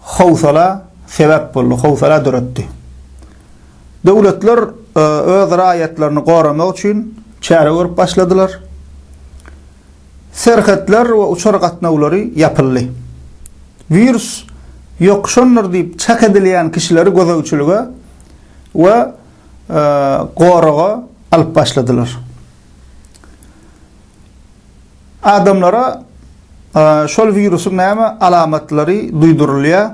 howsala sebäp boldy, howsala döretdi. Döwletler öz raýatlaryny goramak üçin çäre görüp başladylar. Serhetler we uçar gatnawlary ýapyldy. Wirus ýokuşandyr diýip çak edilýän kişileri gözegçilige we goraga alyp başladylar. Adamlara şol wirusyň näme alamatlary duýdurylýar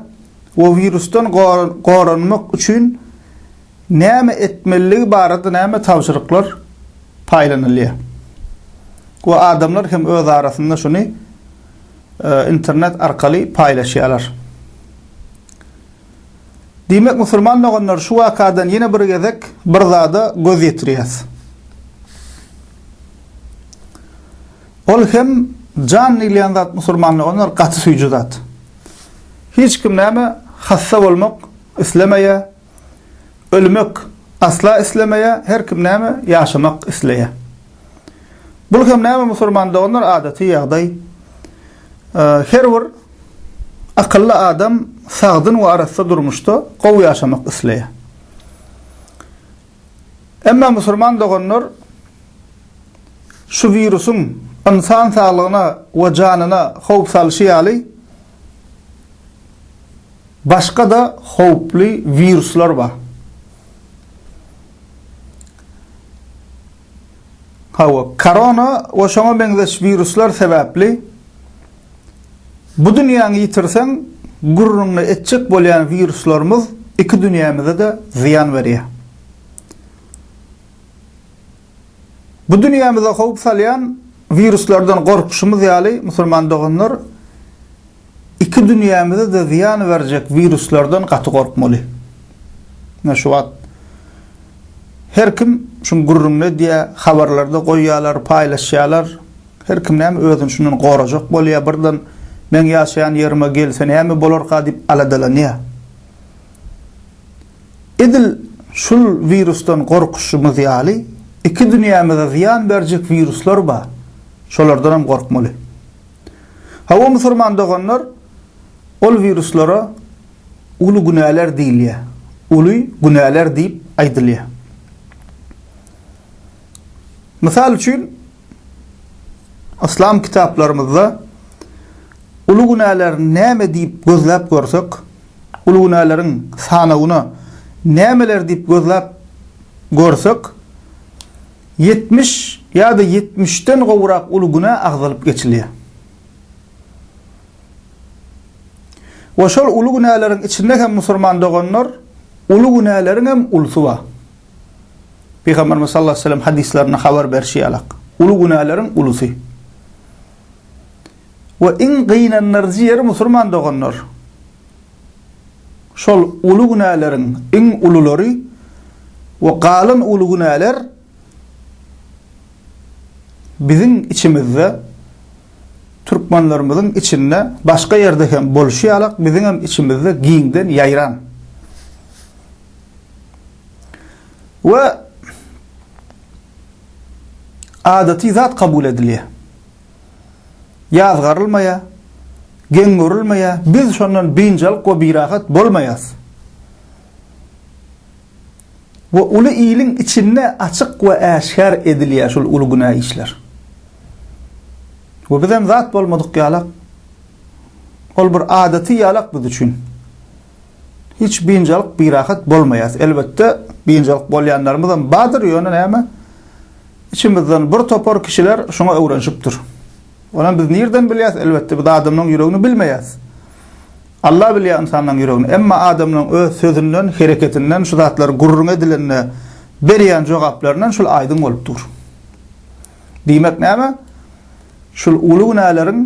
we wirusdan goranmak üçin näme etmeliligi barada näme tabşyryklar paýlanylýar we adamlar hem öz arasynda şuny internet arkaly paýlaşýarlar. Diýmek, musulman doganlar şu wakadan ýene bir gezek bir zada göz ýetirýäs. Ol hem jan diýilýän zat musulmanlar olar gaty süýji zat. Hiç kim näme hassa bolmak islemeýär, ölmek asla islemeýär, her kim näme ýaşamak isleýär. Bul hem näme musulman doganlar adaty ýagdaý. Her bir akylly adam sagdyn we arassa durmuşda gowy ýaşamak isleýär. Emma musulman doganlar şu wirusyň ynsan saglygyna we janyna howp salşy ýaly, başga-da howply wiruslar bar. Hawa, korona we şoňa meňzeş wiruslar sebäpli, Bu dünýäňi ýitirseň, gürrüňini etjek bolýan wiruslarymyz iki dünýämize-de zyýan berýär. Bu dünýämize howp salýan wiruslardan gorkuşymyz ýaly, musulman doganlar, iki dünýämize-de zyýan berjek wiruslardan gaty gorkmaly. Ine şu wagt her kim şuň gürrüňini edýär, habarlarda goýýarlar, paýlaşýarlar. Her kim näme özüni şundan gorajak bolýar, birden meň ýaşaýan ýerime gelse näme bolarka diýip aladalanýar. Edil şul wirusdan gorkuşymyz ýaly, iki dünýämize zyýan berjek wiruslar bar, şolardanam gorkmaly. Hawa musurman doganlar, ol wiruslara uly günäler diýilýär, uly günäler diýip aýdylýar. Mysal üçin, Yslam kitaplarymyzda uly günäler näme diýip gözläp görsek, uly günäleriň sanawyna nämeler diýip gözläp görsek, ýetmiş ýa-da ýetmişden gowrak uly günä agzalyp geçilýär. We şol uly günäleriň içinde hem musulman doganlar, uly günäleriň hem ulusy bar. Pygamberimiz sallallahu aleyhi ve sellem hadislerinde habar berşi ýalak, uly günäleriň ulusy we iň gynandyryjy ýeri musurman doganlar, şol uly günäleriň iň ululary we galan uly günäler biziň içimizde, türkmenlerimiziň içinde, başga ýerde hem bolşy ýalak, biziňem içimizde giňden ýaýran. we adaty zat kabul edilýär. Ýazgarylmaýar, geň görülmeýär, biz şondan biynjalyk we birahat bolmaýarys. Bu uly iliň içinde açyk we äşgär edilýär şul uly günä işler. We bizem zat bolmadyk ýalak. Ol bir adaty ýalak biz üçin. Hiç biynjalyk birahat bolmaýas. Elbetde biynjalyk bolýanlarymyzam bardyr ýöne näme içimizden bir topar kişiler şuňa öwrenşipdir. Onam biz nirden bilýäs elbetde biz adamlaň ýüregini bilmeýäs. Alla bilýä ynsanlaň ýüregini emma adamlaň öz sözünden hereketinden şu zatlar gürrüň edilende berýän jogaplaryndan şul aýdyň bolup dur. Diýmek näme şul uly günäleriň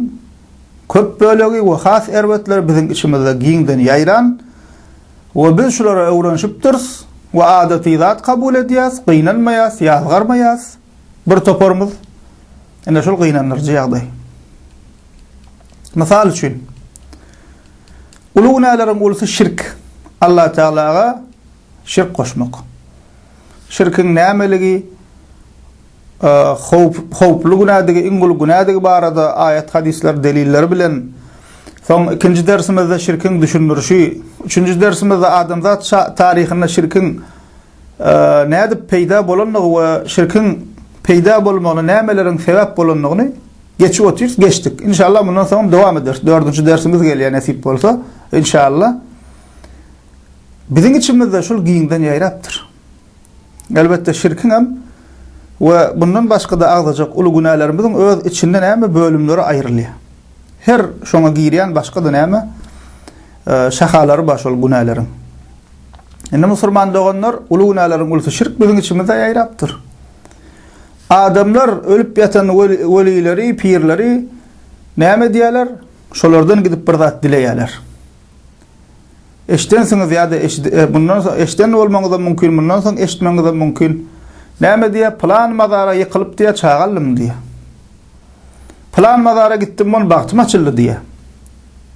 Köp bölegi we has erbetleri biziň içimizde giňden ýaýran we biz şulara öwrenişipdiris we adaty zat kabul edýäs, gynanmaýas, ýazgarmaýas. Bir toparymyz, ine şol gynandyryjy ýagdaý. Mysal üçin, uly günäleriň ulusy şirk, Allatagalaga şirk goşmak. Şirkiň nämeligi, Howp, howply günädigi, iň uly günädigi barada aýat-hadyslar delilleri bilen Soň ikinji dersimizde şirkiň düşündirişi, üçünji dersimizde adamzat şa, taryhynda şirkiň nädip peýda bolandygy we şirkiň peýda bolmagyna nämeleriň sebäp bolandygyny geçip otyrys, geçdik. Inşallah mundan soň dowam ederis. Dördünji dersimiz gelýär nesip bolsa, inşallah. Biziň içimizde şul giňden ýaýrapdyr. Elbetde şirkiňem we bundan başga-da agzajak uly günälerimiziň öz içinde näme bölümleri aýrylýar. Her şoňa girýän başga-da näme şahalary bar şol günäleriň. Indi musulman doganlar, uly günäleriň ulusy şirk biziň içimizde ýaýrapdyr. Adamlar ölüp ýatan welileri, pirleri näme edýärler? Şolardan gidip bir zat dileýärler. Eşdensiňiz ýa-da eşidi e, mundan soň eşden bolmaňyzam mümkin, mundan soň eşitmeňizem mümkin. Näme diýýär? Pylan mazara ýykylyp diýýär, çaga aldym diýýär. Pylan mazara gitdim, on bagtym açyldy diýýär.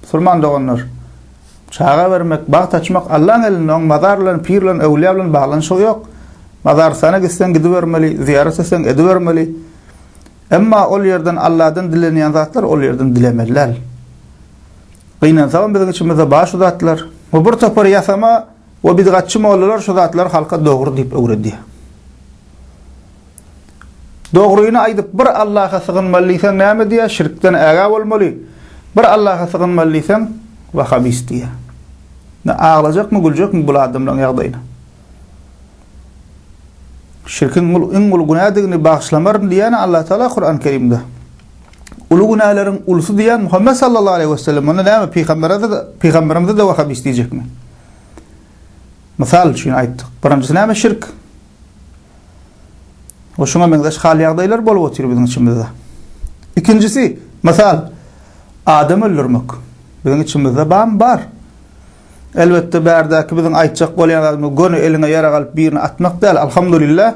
Musulman doganlar, çaga bermek, bagt açmak Allaň elinde, oň mazar bilen, pir bilen, öwlüýä bilen baglanyşygy ýok. Mazarystana gitseň gidibermeli, zyýarat etseň edibermeli. Emma ol ýerden Alladan dilenýän zatlar ol ýerden dilemeli däl. Gynansagam biziň içimizde bar şu zatlar. Bu bir topar ýasama we bidgatçy mollalar şu zatlary halka dogry diýip öwredýär. Dogryny aýdyp bir Allaha sygynmaly diýseň näme diýýär? Şirkden ägä bolmaly. Bir Allaha sygynmaly diýseň wahabist diýýär. Indi aglajakmy, güljekmi bul adamlaryň ýagdaýyna? Şirkiň iň uly günädigini bagyşlamaryn diýýär Allatagala Kuran Kerimde. Uly günäleriň ulusy diýýän Muhammet sallallahu aleýhi we sellem onda näme pygamberimize pygamberimize de wahab isleýjekmi? Mysal üçin aýtdyk. Birinjisi näme şirk? O şuňa meňzeş hal ýagdaýlar bolup otyr biziň içimizde. Ikinjisi, mysal adam öldürmek. Biziň içimizde bam bar. Elbetde bärdäki biziň aýtjak bolýan zadymyz göni eliňe ýarag alyp birini atmak däl, alhamdulillah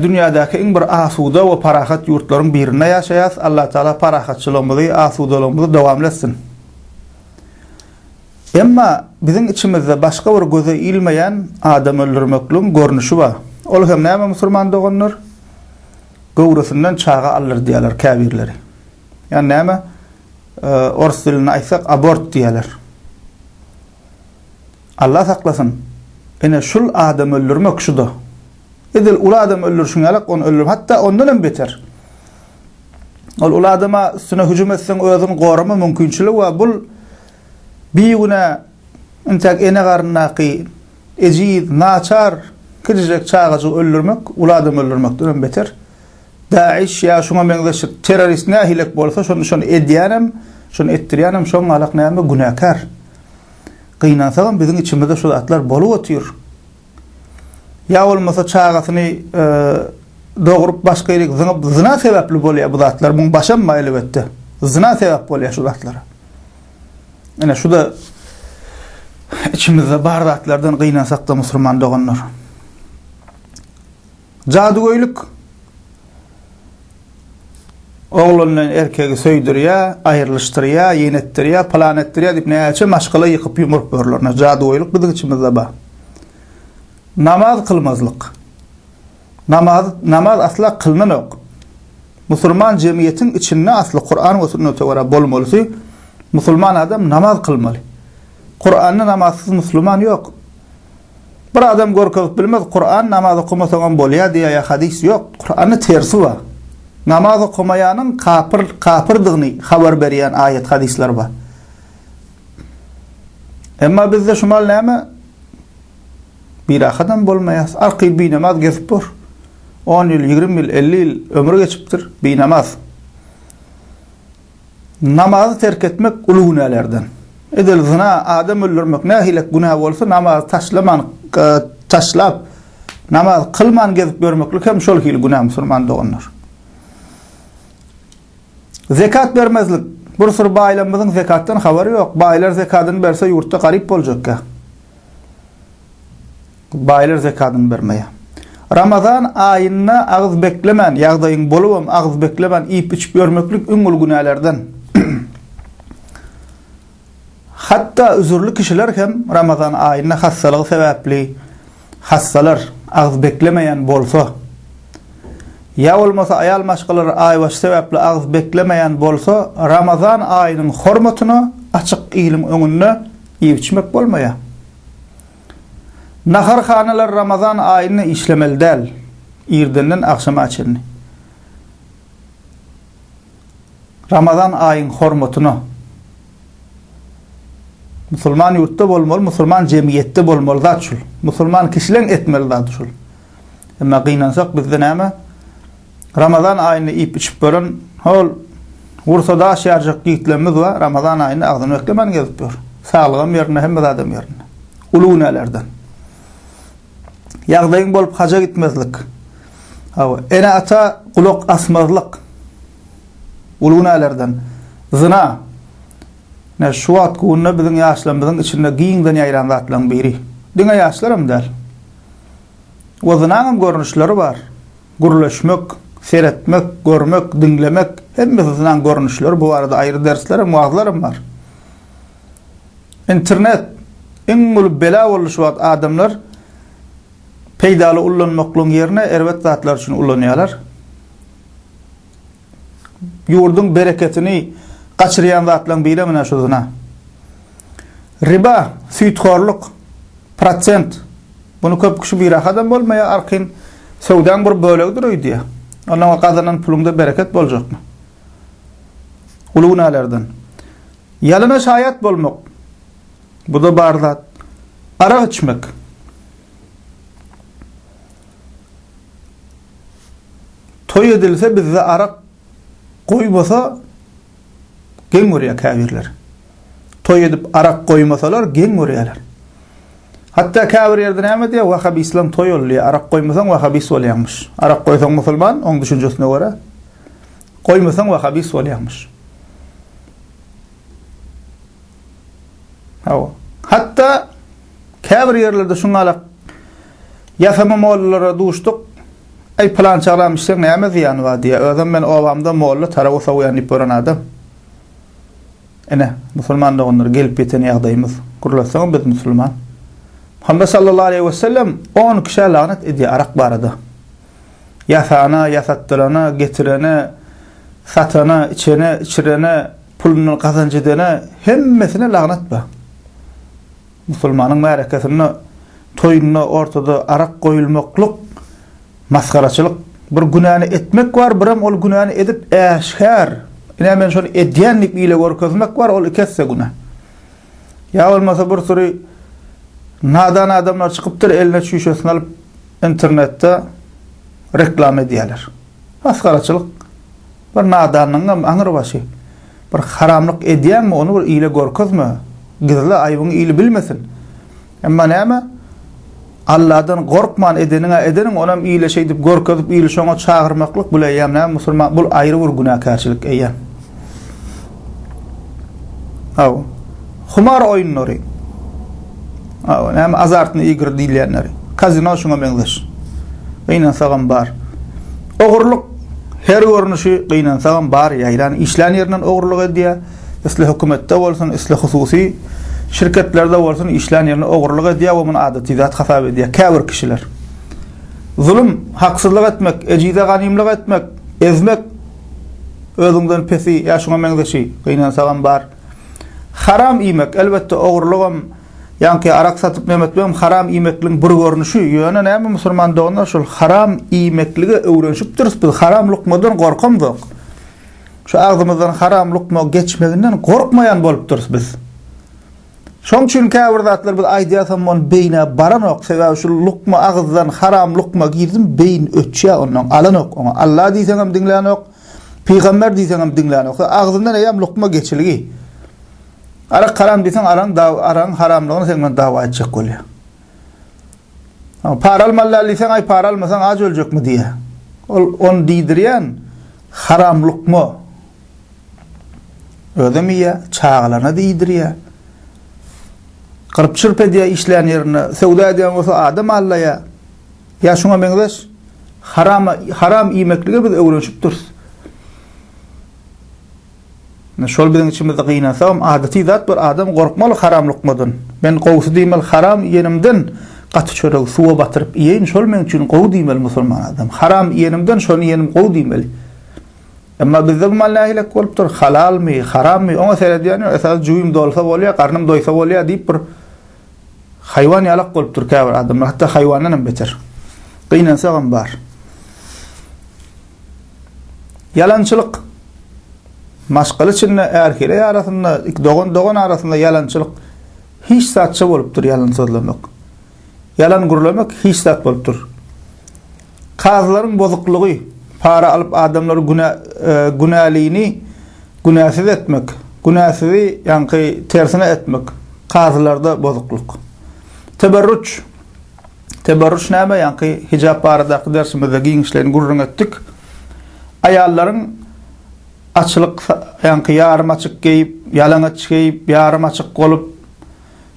dünýädäki iň bir asuda we parahat ýurtlaryň birinde ýaşaýas, Allah Taala parahatçylygymyzy, asudalygymyzy dowamly etsin. Emma biziň içimizde başga bir göze ilmeýän adam öldürmekligiň görnüşi bar. Ol hem näme musurman doganlar? Göwresinden çaga aldyrdýarlar käbirleri. Ýani näme? Orus dilinde aýtsak abort diýerler. Allah saklasyn. Ine şul adam öldürmek şuda. Edil uly adam öldürşiň ýalak ony öldürmek. Hatda ondan hem beter. Ol uly adama üstüne hüjüm etseň özüň gorama mümkinçiligi we bul bigüne intäk ene garyndaky ejiz, naçar, kiçijek çagajygy öldürmek uly adam öldürmekden hem beter. Daeş ýa şuňa meňzeşik terrorist nähilek bolsa şony şony edýänem, şony etdirýänem şoň galak näme günäkär. Gynansagam biziň içimizde şu zatlar bolup otyr. Ýa bolmasa çagasyny dogrup başga ýerik zyňyp zyna sebäpli bolýa bu zatlar muň başam bar elbetde. Zyna sebäp bolýa şu zatlara. Ine şuda içimizde bar zatlardan gynansakda musulman doganlar. Jadygöýlik Oglandan erkegi söýdürýä, aýrylyşdyrýa, ýenetdirýä, pylan etdirýä diýip näçe maşgala ýykyp ýumuryp ýörler. Jadygöýlik biziň içimizde bar. Namaz kylmazlyk. Namaz namaz asla kylnanok. Musulman jemgyýetiň içinde asly Kuran we sünnete görä bolmalysy musulman adam namaz kylmaly. Kuranda namazsyz musulman ýok. Bir adam görkezip bilmez, Kuran namaz okamasaňam bolýar diýýär hadys ýok. Kuranda tersi bar. Namaz okamaýanyň kapyr, kapyrdygyny habar berýän aýat hadyslar bar. Emma bizde şumal näme? Birahatam bolmaýas. Arky binamaz gezip bor. 10 ýyl, 20 ýyl, 50 ýyl ömri geçipdir, binamaz. Namazy terk etmek uly günälerden. Edil zyna, adam öldürmek nähilek günä bolsa, namazy taşlaman, taşlap, namaz kylman gezip ýörmeklik hem şol hili günä musulman doganlar. Zekat bermezlik. Bir syr baýlarymyzyň zekatdan habary ýok. Baýlar zekadyny berse ýurtda garyp boljakka. Baýlar zekadyny bermeýär. Ramazan aýynda agyz beklemän, ýagdaýyň bolubam agyz beklemän iýip-içip ýörmeklik iň uly günälerden. Hatda üzürli kişiler hem Ramazan aýynda hassalygy sebäpli hassalar, agyz beklemeýän bolsa, ýa bolmasa aýal maşgalary aýbaşy sebäpli agyz beklemeýän bolsa, Ramazan aýynyň hormatyna açyk iliň öňünde iýip-içmek bolmaýar. Naharhanalar Ramazan aýynda işlemeli däl, irdenden agşama çenli. Ramazan aýyň hormatyna musulman ýurtda bolmaly, musulman jemgyýetde bolmaly zat şul. Musulman kişileň etmeli zady şul. Emma gynansak bizde näme? Ramazan aýynda iýip-içip gören hol gursa daş ýarjak ýigitlerimiz bar, Ramazan aýynda agzyny beklemän gezip ýör. Saglygam ýerinde, hemme zadam ýerinde. Uly günälerden. Ýagdaýyň bolup haja gitmezlik. Hawa, ene-ata gulak asmazlyk. Uly günälerden. Zyna. Ine, şu wagt günde biziň ýaşlarymyzyň içinde giňden ýaýran zatlaryň biri. Diňe ýaşlaram däl. We zynaňam görnüşleri bar. Gürleşmek, seretmek, görmek, diňlemek, hemmesi zynan görnüşleri, bu barada aýry dersler hem, wagzlar hem bar. Internet iň uly bela boldy şu wagt, adamlar peýdaly ullanmaklygyň ýerine erbet zatlar üçin ulanýarlar. ýurduň bereketini gaçyrýan zatlaryň biri menä şu zyna. Riba, süýthorluk, prosent. Bunu köp kişi birahadan bolmaýar, arkin söwdaň bir bölegidir öýdýär. Ondan gazanan puluňda bereket boljakmy? Uly günälerden. Ýalana şaýat bolmak. Bu da bar zat. Arak içmek. Toý edilse bizde arak goýmasa geň görýär käbirler. Toý edip arak goýmasalar geň görýärler. Hatda käbir ýerde näme diýýär? Wahabislaň toý ol diýýär. Arak goýmasaň wahabis bolýaňmyş. Arak goýsaň musulman, oň düşünjesine görä. Goýmasaň wahabis bolýaňmyş. Hawa. Hatda käbir ýerlerde şuňalak ýasama mollalara duşduk. Äý, pylançy agam içseň näme zyýany bar diýýär. Özem men obamda molla tarap sowýan diýip gören adam. Ine, musulman doganlar gelip ýeten ýagdaýymyz. Gürleseňem biz musulman. Muhammet sallallahu aleýhi we sellem on kişä lagnet edýär arak barada. Ýasana, ýasatdyrana, getirene, satana, içene, içirene, Pulundan gazanç edene hemmesine lagnat bar. Musulmanyň märekesinde, toýunda ortada arak goýulmaklyk masgaraçylyk. Bir günäni etmek bar, birem ol günäni edip äşgär, ine men şony edýän diýip ile görkezmek bar, ol iki esse günä. Ýa bolmasa bir süri nadan adamlar çykypdyr, eline çüýşesini alyp internetde reklama edýärler. Masgaraçylyk. Bir nadanyňam aňrybaşy. Bir haramlyk edýäňmi, ony bir ile görkezme. Gizle, aýbyňy il bilmesin. Emma näme? Alladan gorkman edeniň-ä edeniň, onam ile şeýdip görkezip, ili şoňa çagyrmaklyk, bul eýýäm näme, musulman, bul aýry bir günäkärçilik eýýäm. Aw. Humar oýunlary. Aw, näme azartny igr diýilýänleri. Kazino şuňa meňzeş. Gynansagam bar. Ogurlyk her görnüşi gynansagam bar ýaýran. Işlän ýerinden ogurlyk edýär. Isle hökümetde bolsun, isle hususy şirketlerde bolsun işlän ýerinde ogurlyk edýär we muny adaty zat hasap edýär käbir kişiler. Zulum, haksyzlyk etmek, ejize ganymlyk etmek, ezmek, Özüňden pesi ýa şuňa meňzeşi gynansagam bar. Haram iýmek, elbetde, ogurlygam, ýaňky arak satyp nem etmegem haram iýmekligiň bir görnüşi. Ýöne näme musulman doganlar şol haram iýmeklige öwrenişipdiris biz, haram lukmadan gorkamzok. Şu agzymyzdan haram lukma geçmeginden gorkmaýan bolupdyrys biz. Şoň üçin käbir zatlar biz aýdýasam bol beýnä baranok sebäbi şu lukma agyzdan haram lukma girdim beýin öçýä ondan alanok oňa Alla diýseňem diňlänok pygamber diýseňem diňlänok agzyndan eýäm lukma geçilgi Arak haram diýseň araň daw araň haramlygyny sen bilen dawa etjek bolýa Para almaly diýseň aý para almasaň aç öljekmi diýä ol on diýdirýän haram lukma Özem iýýär, çagalaryna-da iýdirýär. Gyrp-çyrp edýär işlän ýerinde. Söwda edýän bolsa adam aldaýar. Ýa şuňa meňzeş. Harama, haram iýmeklige biz öwrenişip durus. Ine şol biziň içimizde gynansagam adaty zat bir adam gorkmaly haram lukmadan. Men gowusy diýmeli haram iýenimden gaty çöregi suwa batyryp iýeýin, şol meň üçin gowy diýmeli musulman adam. Haram iýenimden şony iýenim gowy diýmeli. Emma bizde bu mal nähilek bolupdyr, halalmy, harammy, oňa seredýän ýok, esasy jübim dolsa bolýar, garnym doýsa bolýar diýip bir haýwan ýalak bolupdyr käbir adamlar, hatda haýwandan hem beter. Gynansak hem bar. Ýalançylyk. Maşgala içinde, ärheleý arasynda, dogan-dogan arasynda ýalançylyk hiç zatça bolupdyr ýalan sözlemek. Ýalan gürlemek hiç zat bolup dur. Kazylaryň bozuklygy, para alyp adamlary günä günälini günäsiz etmek, günäsizi ýaňky tersine etmek kazylarda bozuklyk. Teberruç Teberruç näme ýaňky hijap baradaky dersimizde giňişleýin gürrüň etdik. Aýallaryň açylyk ýaňky ýarym açyk geýip, ýalaňaç geýip, ýarym açyk bolup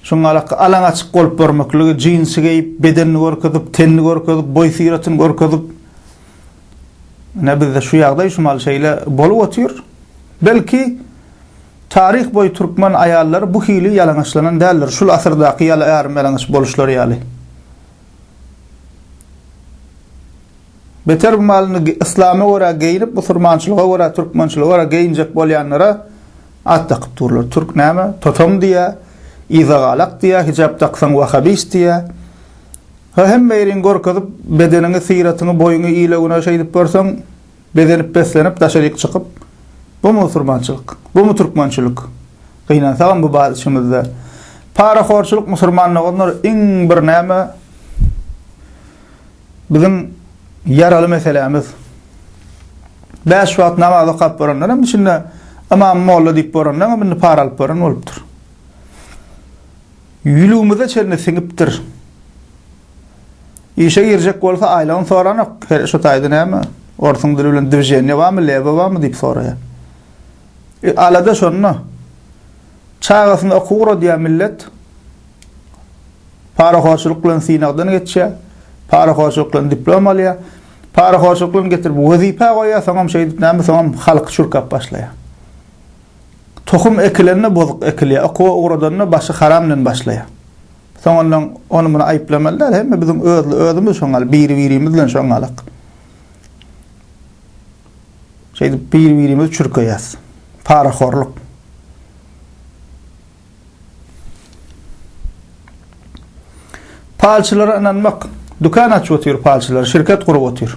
Şoň alaka alaň açyk bolup görmekligi, jinsi geýip, bedenini görkezip, tenini görkezip, boý-syratyny görkezip. Ine bizde şu ýagdaý şu mahaly şeýle bolup otyr. Belki, taryh boýy türkmen aýallary bu hili ýalaňaçlanan däldir, şul asyrdaky ýaly ýarym-ýalaňaç boluşlary ýaly. Beter bu mahaly indi yslama görä geýnip, musurmançylyga görä, türkmençilige görä geýinjek bolýanlara At dakyp durlar türk näme totam diýä izagalak diýä hijap daksaň wahabist diýä ha hemme ýeriňi görkezip bedeniňi syratyňy boýuňy ile güne şeýdip görseň bezenip beslenip daşaryk çykyp bu musurmançylyk bumy türkmençilik gynansagam bu bar içimizde parahorçylyk musurman doganlar iň bir näme Biziň ýaraly meselämiz. Bäş wagt namaz okap boranlar hem içinde ymam molla diýip boranlar hem indi para alyp boran bolupdyr. Ýülügimize çenli siňipdir. Işe girjek bolsa aýlagyny soranok. Her şu taýda näme? Orsuň dili bilen dwiženiýe barmy, lewa barmy diýip soraýar. E, alada şonda. Çagasyny okuw uradýar millet. Parahorçulyk bilen synagdan geçýär. Parahorçulyk bilen diplom alýar. Parahorçulyk bilen getirip wezipä goýýar, soňam şeýdip näme, soňam halky çürkäp başlaýar. Tohum ekilende bozuk ekilýär, okuwa ugradanda başy haram bilen başlaýar. Soňundan ony-muny aýyplamaly däl, hemme biziň özli özümiz şoňaly, biri-birimiz bilen şoňalyk. Şeýdip biri-birimizi çürkeýäs. Parahorluk. Palçylara ynanmak. Dükan açyp otyr palçylar, şirket gurup otyr.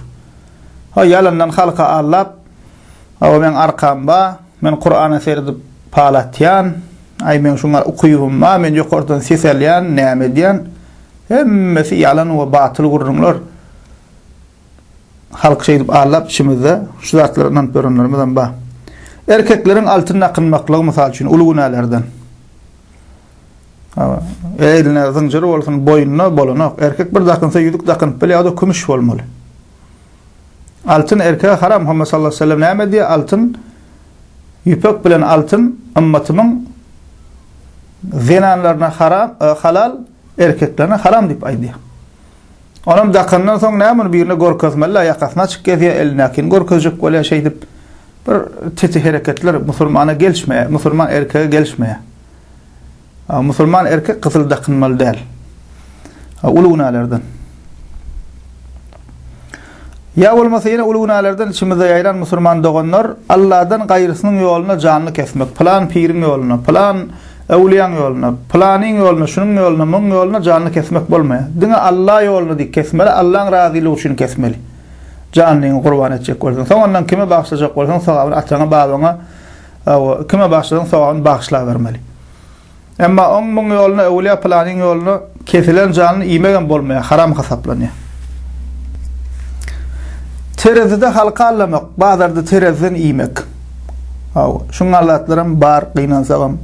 Haý ýalandan halka aldap, Hawa meň arkam bar, men Kurana seredip pal atýan, aý meň şuňa ukypym bar, men ýokardan ses alýan, näme edýän. Hemmesi ýalan we batyl gürrüňler. halk şeýdip aldap içimizde şu zatlara ynanyp ýörenlerimizem bar. Erkekleriň altyn dakynmaklygy mysal üçin uly günälerden. Eline zynjyr bolsun, boýnuna bolanok. Erkek bir dakynsa ýüzük dakynyp bilýär, o-da kümüş bolmaly. Altyn erkeğe haram. Muhammed sallallahu aleyhi ve sellem näme diýýär? Altyn ýüpek bilen altyn ymmatymyň zenanlaryna haram, e, halal, erkeklerine haram diýip aýdýar. Onam dakandan soň näme ony birine görkezmeli-ä, ýakasyny açyk gezýär, elindäkini görkezjek bolýar, şeýdip bir titi hereketler musulmana gelişmeýär, musulman erkege gelişmeýär. Musulman erkek gyzyl dakynmaly däl. Uly günälerden. Ýa bolmasa ýene uly günälerden içimizde ýaýran musulman doganlar Alladan gaýrysynyň ýoluna janly kesmek, pylan piriň ýoluna, pylan äwliýaň ýoluna, pylanyň ýoluna, şunuň ýoluna, muň ýoluna janly kesmek bolmaýar. Diňe Alla ýoluna diýip kesmeli, Allaň razylygy üçin kesmeli. Janlyňy gurban etjek bolsaň. Soňandan kime bagşlajak bolsaň sogabyny ataňa, babaňa, hawa, kime bagşlasaň sogabyny bagyşlabermeli. Emma oň muň ýoluna öwülýä pylanyň ýoluna kesilen janyny iýmegem bolmaýa haram hasaplanýa. Terezide halka allamak, bazarda tereziden iýmek. Hawa, şungal zatlaram bar gynansagam.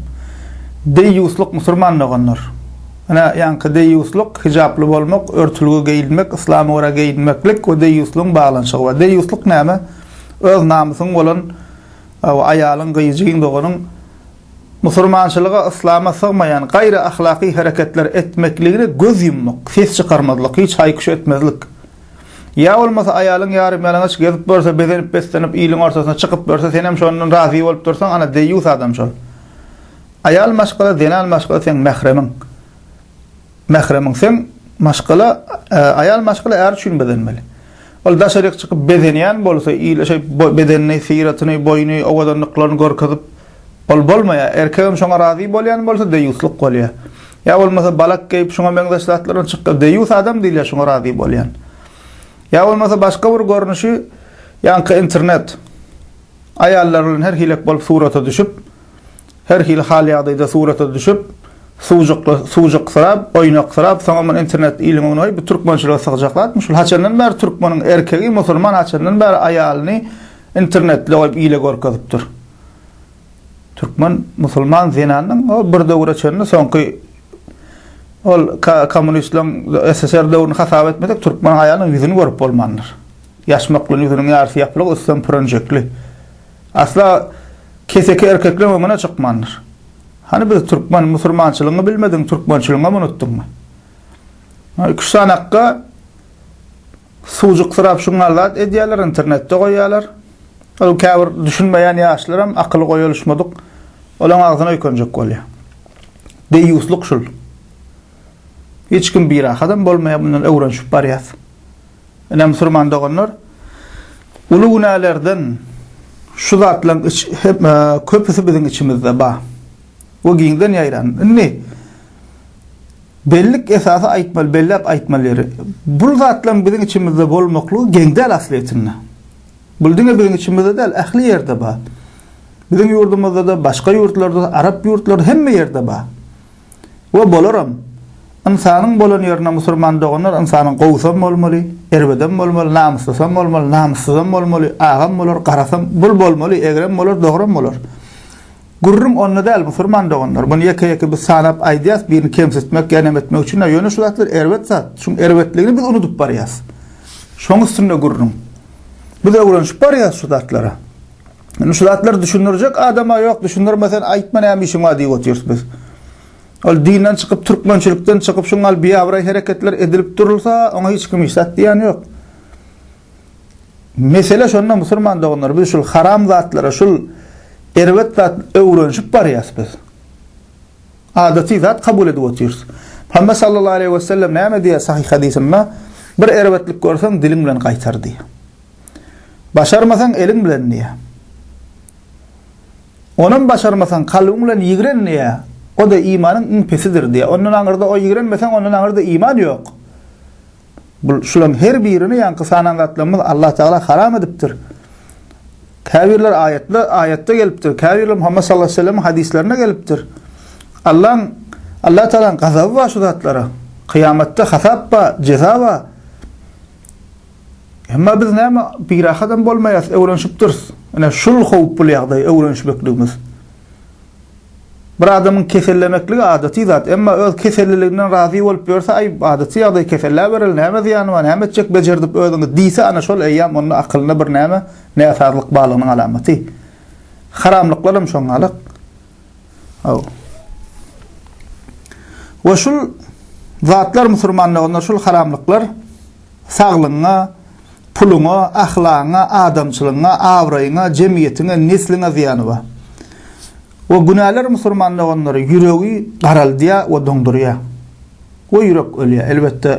Deýýuslyk musurman doganlar. Ine ýaňky deýýuslyk hijaply bolmak, örtülgi geýinmek, yslama görä geýinmeklik we deýýuslygyň baglanyşygy bar. Deýýuslyk näme? Öz namysyň bolan aýalyň gyýjyň doganyň Musurmançylyga, yslama sygmaýan gaýry ahlaky hereketler etmekligine göz ýummak, ses çykarmazlyk, hiç haýkyş etmezlik. Ýa bolmasa aýalyň ýarymýalaňaç gezip görse, bezenip-beslenip iliň ortasyna çykyp görse, senem şondan razy bolup dursaň, ana, deýýus adam şol. Aýal maşgala, zenan maşgala seň mähremiň. Mähremiň sen maşgala aýal maşgala är üçin bezenmeli. Ol daşaryk çykyp bezenýän bolsa ile şeýp bedenini syratyny boýuny owadanlyklaryny görkezip ol bolmaýar. Erkegem şoňa razy bolýan bolsa deýuslyk bolýar. Ýa bolmasa balak geýip şuňa meňzeş zatlar bilen çykýar deýus adam diýilýär şoňa razy bolýan. Ýa bolmasa başga bir görnüşi ýaňky internet aýallar bilen her hilek bolup surata düşüp Her hili hal-ýagdaýda surata düşüp, suwjukly suwjuksyrap, oýnaksyrap, soňam ony internetde iliň öňüne goýup, bu türkmençilige sygajak zatmy şul? Haçandan bäri türkmeniň erkegi, musulman haçandan bäri aýalyny internetde goýup ile görkezip dur? Türkmen musulman zenanynyň o bir döwre çenli soňky ol kommunistleriň SSR döwrüni hasap etmesek, türkmen aýalynyň ýüzüni görüp bolmandyr. Ýaşmaklyň ýüzüniň ýarysy ýapylyk, üsti hem pürenjekli. Asla Keseki erkekleň öňüne çykmandyr. Hany biz türkmen, musurmançylygyňy bilmediň, türkmençiligiňem unutdyňmy? Ýa iki-üç sany akga suwjuksyrap şuňňal zat edýärler, internetde goýýarlar. Ol käbir düşünmeýän ýaşlaram akyly goýalyşmadyk, olaň agzyna öýkenjek bolýar. Deýýuslyk şul. Hiç kim birahatam bolmaýar, mundan öwrenişip barýas. Ine, musulman doganlar, uly günälerden şu zatlaryň köpüsi biziň içimizde bar we giňden ýaýran. Indi bellik esasy aýtmaly, belläp aýtmaly ýeri, bu zatlaryň biziň içimizde bolmaklygy geň däl aslyýetinde. Bu diňe biziň içimizde däl, ähli ýerde bar. Biziň ýurdumyzda-da, başga ýurtlarda-da, arap ýurtlarynda, hemme ýerde bar. We bolaram. Ynsanyň bolan ýerine musurman doganlar ynsanyň gowusam bolmaly, erbedem bolmaly, namyslysam bolmaly, namyssyzam bolmaly, agam bolar, garasam, bul bolmaly, egrem bolar, dogram bolar. Gürrüň onda däl musurman doganlar. Muny ýeke-ýeke biz sanap aýdýas, birini kemsitmek ýa neme etmek üçin däl. Ýöne şu zatlar erbet zat. Şuň erbetligini biz unudyp barýas. Şoň üstünde gürrüň. Biz öwrenişip barýas şu zatlara. Indi şu zatlar düşündirjek adama yok, düşündirme sen aytma näme işin var diýip otyrs biz. Ol dinden çykyp türkmençilikden çykyp şuň al biýabray hereketler edilip durulsa, oňa hiç kim işat diýen yok. Mesele şonda musulman doganlar biz şul haram zatlara, şul erbet zat öwrenişip barýas biz. Adaty zat kabul edip otyrs. Muhammed sallallahu aleyhi ve sellem näme diýýär sahih hadisinde? Bir erbetlik görseň diliň bilen gaýtar diýýär. Başarmasaň eliň bilen diýýä. Onam başarmasaň kalbyň bilen ýigren diýýä. O-da imanyň iň pesidir diýýä. Ondan aňyrda o ýigrenmeseň ondan aňyrda iman ýok. Bu şularyň her birini ýaňky sanan zatlarymyz Allah Tagala haram edipdir. Käbirleri aýatda aýatda gelipdir. Käbirleri Muhammet sallallahu aleyhi ve sellemiň hadyslarynda gelipdir. Allaň Allah Tagalaň gazaby bar şu zatlara. Kyýamatda hasap bar, jeza bar. Emma biz näme birahatam bolmaýas, öwrenişipdiris. Ine şul howply ýagdaý, öwrenişmekligimiz. Bir adamyň kesellemekligi adaty zat, emma öz keselliliginden razy bolup ýörse, aý, adaty ýagdaý, keselläbereli, näme zyýany bar, näme etjek, bejerdip özüňi diýse, ana şol eýýam onda akylyna bir näme, näsazlyk barlygynyň alamaty. Haramlyklar hem şoňňalak. Haw. We şul zatlar musurmanlygynda şul haramlyklar saglygyňa, puluňa, ahlagyňa, adamçylygyňa, abraýyňa, jemgyýetiňe, nesliňe zyýany bar. We günäler musurmanlygynlary ýüregi garaldýar we doňdurýar. We ýürek ölýär. Elbetde,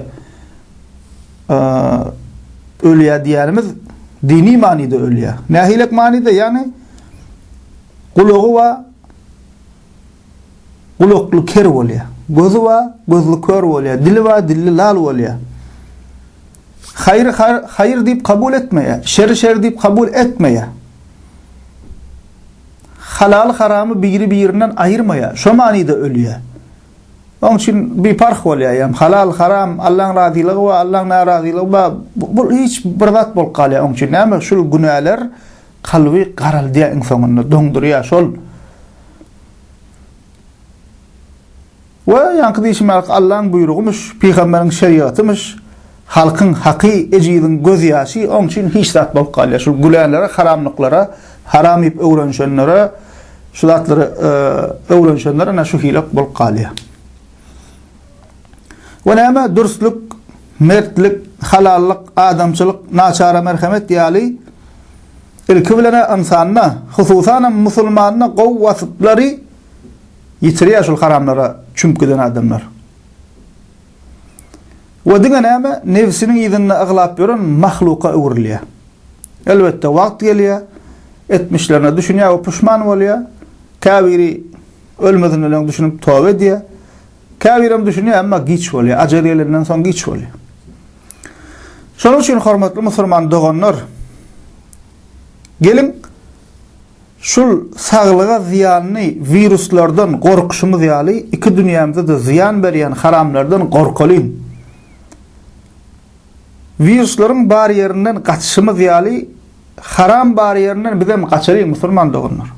eee, ölýär diýýänimiz dini manyda ölýär. Nähilek manyda? Ýagny, Gulagy bar, gulakly ker bolýar. Gözi bar, gözli kör bolýar. Dili bar, dilli lal bolýar. Haýry haýyr diýip kabul etmeýär, şeri şer diýip kabul etmeýär. Halaly haramy biri-birinden aýyrmaýar. Şo manyda ölýär. Oň üçin biparh bolýar, ýa halal, haram, Allaň razylygy bar, Allaň närazylygy bar. Bu hiç bir zat bolup galýar oň üçin. Näme şul günäler? Kalby garaldýar iň soňunda doňdurýar şol. We ýaňky diýşimyz Allaň buýrugymyş, pygamberiň şerigatymyş, halkyň haky, ejiziň göz ýaşy oň üçin hiç zat bolup galýar. Şul gülälere, haramlyklara, haram iýip öwrenişenlere, şu zatlary öwrenişenler ana şu hile bolup galýar. we näme dürslik, mertlik, halallyk, adamçylyk, naçara merhemet ýaly ilki bilen-ä ynsanda, hususanam musulmanda gowy waspylary ýitirýär şul haramlara çümüp giden adamlar. We diňe näme nebsiniň yzynda aglap ýören mahluka öwrülýär. Elbetde wagt gelýär, etmişlerine düşünýär we puşman bolýar. Käbiri ölmezin ölen düşünip toba edýär. Käbirem düşünýär, emma giç bolýar. Ajal gelenden soň giç bolýar. Şonuň üçin hormatly musulman doganlar, geliň şul saglyga zyýanly wiruslardan gorkuşymyz ýaly, iki dünýämize-de zyýan berýän haramlardan gorkalyň. Wiruslaryň bar ýerinden gaçyşymyz ýaly, haram bar ýerinden bizem gaçalyň musulman doganlar.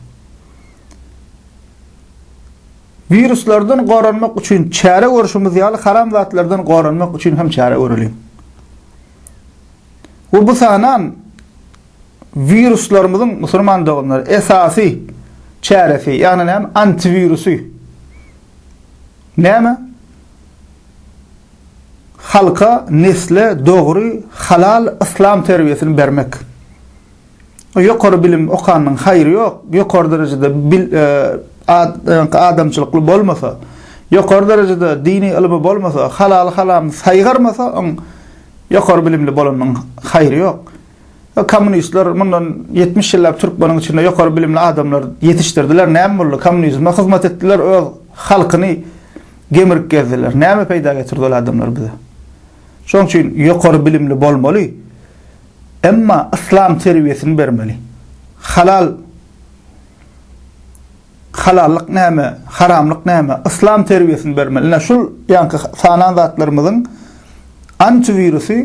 Wiruslardan goranmak üçin çäre görüşimiz ýaly haram zatlardan goranmak üçin hem çäre göreliň. We bu sanan wiruslarymyzyň musulman doganlar esasy çäresi, ýagny näme? Antiwirusy. Näme? Halka, nesle dogry, halal yslam terbiýesini bermek. Ýokary bilim okanyň haýry ýok, ýokary derejede adamçylykly bolmasa, ýokary derejede dini ylymy bolmasa, halaly haramyny saýgarmasa, oň ýokary bilimli bolanyň haýry ýok. Kommunistler mundan ýetmiş ýyllap türkmeniň içinde ýokary bilimli adamlar ýetişdirdiler, näme boldy? Kommunizme hyzmat etdiler, öz halkyny gemirip gezdiler. Näme peýda getirdi ol adamlar bize? Şoň üçin ýokary bilimli bolmaly. Emma yslam terbiýesini bermeli. Halal halallyk näme, haramlyk näme, yslam terbiýesini bermeli. Ine şul ýaňky sanan zatlarymyzyň antiwirusy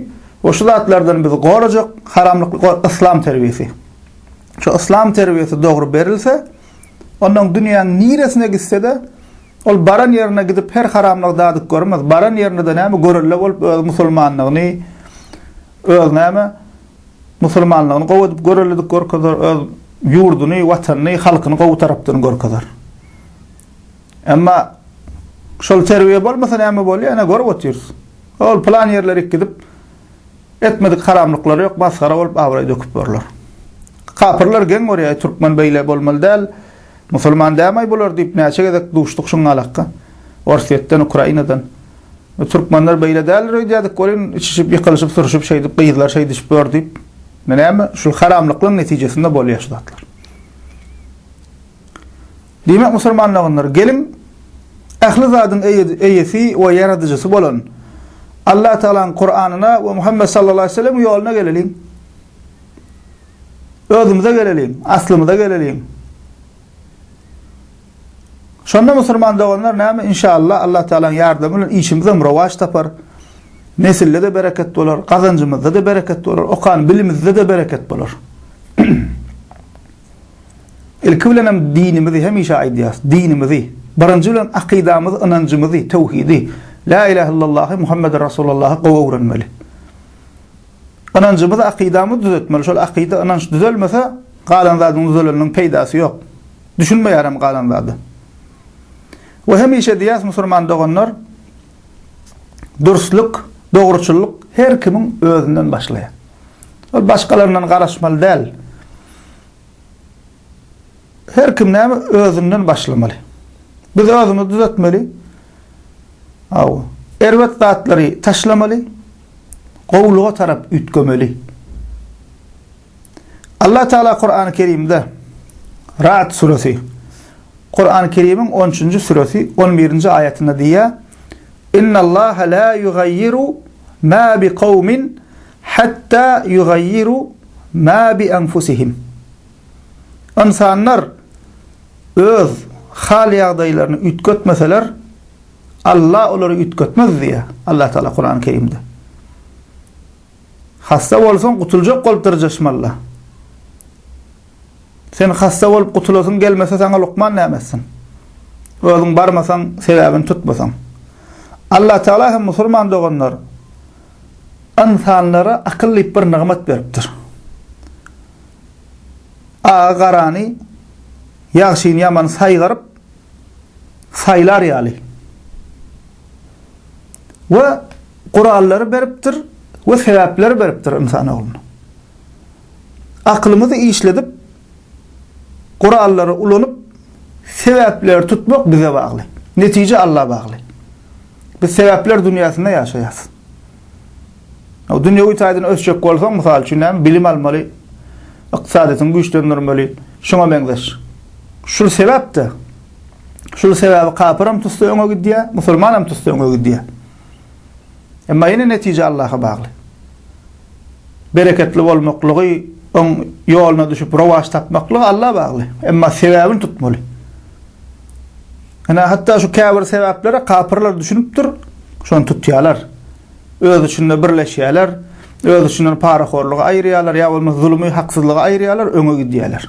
we şu zatlardan bizi gorajak haramlyk yslam terbiýesi. Şu yslam terbiýesi dogry berilse, ondan dünýäň niresine gitse-de, ol baran ýerine gidip her haramlygy dadyp görmez. Baran ýerinde-de näme görelde bolup öz musulmanlygyny Öz näme, musulmanlygyny gowy edip görelilik görkezer, öz ýurduny, watanyny, halkyny gowy tarapdan görkezer. Emma şol terbiýe bolmasa näme bolýar, ene görüp otyrys. Ol plan ýerlerik gidip, etmedik haramlyklary ýok, masgara bolup abraý döküp ýörler. Kapyrlar geň görýär, türkmen beýle bolmaly däl, musulman dämaý bular diýip näçe gezek duşduk şuň galakka. Orsýetden, Ukrainadan. Bu türkmenler beýle däldir öýdýädik welin, içişip, ýykylyşyp, sürşüp, şeýdip, gyzlar şeý düşüp ýör diýip, indi näme, şul haramlyklaryň netijesinde bolýar şu zatlar. Diýmek, musulman doganlar, geliň, ähli zadyň eýesi we ýaradyjysy bolan Allatagalaň Kuranyna we Muhammet sallallahu aleyhi ve sellemiň ýoluna geleliň. Özümize geleliň, aslymyza geleliň. Şonda musulman doganlar näme inşallah Allatagalaň ýardamy bilen işimizem rowaç tapar, nesilde-de bereket bolar, gazanjymyzda-da bereket bolar, okan bilimizde-de bereket bolar. Ilki bilenem dinimizi hemişe aýdýarys, dinimizi, birinji bilen akydamyzy, ynanjymyzy, töwhidi, La ilahe illallahy, Muhammeden Rasulallahy gowy öwrenmeli. Ynanjymyzy, akydamyzy düzetmeli. Şol akyda, ynanç düzelmese, galan zadyň düzeleniniň peýdasy ýok. Düşünmeýärem galan zady. We hemişe diýýäs musurman doganlar dursluk, dogruçyllyk her kimiň özünden başlaýar. Ol başgalaryndan garaşmaly däl. Her kim näme özünden başlamaly. Biz özümizi düzetmeli. Aw, erbet zatlary taşlamaly. Gowulyga tarap üýtgemeli. Allah Tagala Kurany Kerimde, Ra'd suresi, Kurany Kerimiň on üçünji suresi on birinji aýatynda diýýär, Innallaha la ýugaýýiru ma bi kawmin hatta ýugaýýiru ma bi anfusihim. Ynsanlar öz hal-ýagdaýlaryny üýtgetmeseler, Allah olary üýtgetmez diýýär Allah Tagala Kurany Kerimde. Hassa bolsaň gutuljak bolup dyrjaşmalla. Sen hassa bolup gutulasyň gelmese saňa lukman näme etsin. Özüň barmasaň sebäbini tutmasaň. Allah Tagala hem musulman doganlar ynsanlara akyl diýip bir nygmat beripdir. Agy garany ýagşyny ýamany saýgaryp saýlar ýaly. We Gurallary beripdir we sebäpleri beripdir ynsan ogluna. Akylymyzy işledip, gurallary ulanyp, sebäpleri tutmak bize bagly. Netije Alla bagly. Biz sebäpler dünýäsinde ýaşaýarys. O dünýewi taýdan ösjek bolsaň, mysal üçin, näme, bilim almaly, ykdysadyýetiňi güýçlendirmeli, şuňa meňzeş. Şul sebäp-de, şul sebäbi kapyram tutsa öňe gidýär, musulmanam tutsa öňe gidýär. Emma ýene netije Allaha bagly. Bereketli bolmaklygy, oň ýoluna düşüp rowaç tapmaklygy Alla bagly. Emma sebäbini tutmaly. Ene hatda şu käbir sebäplere kapyrlar düşünipdir, şony tutýarlar. Öz içinde birleşýärler, öz içinden parahorlugy aýyrýarlar ýa bolmasa zulmy, haksyzlygy aýyrýarlar, öňe gidýärler.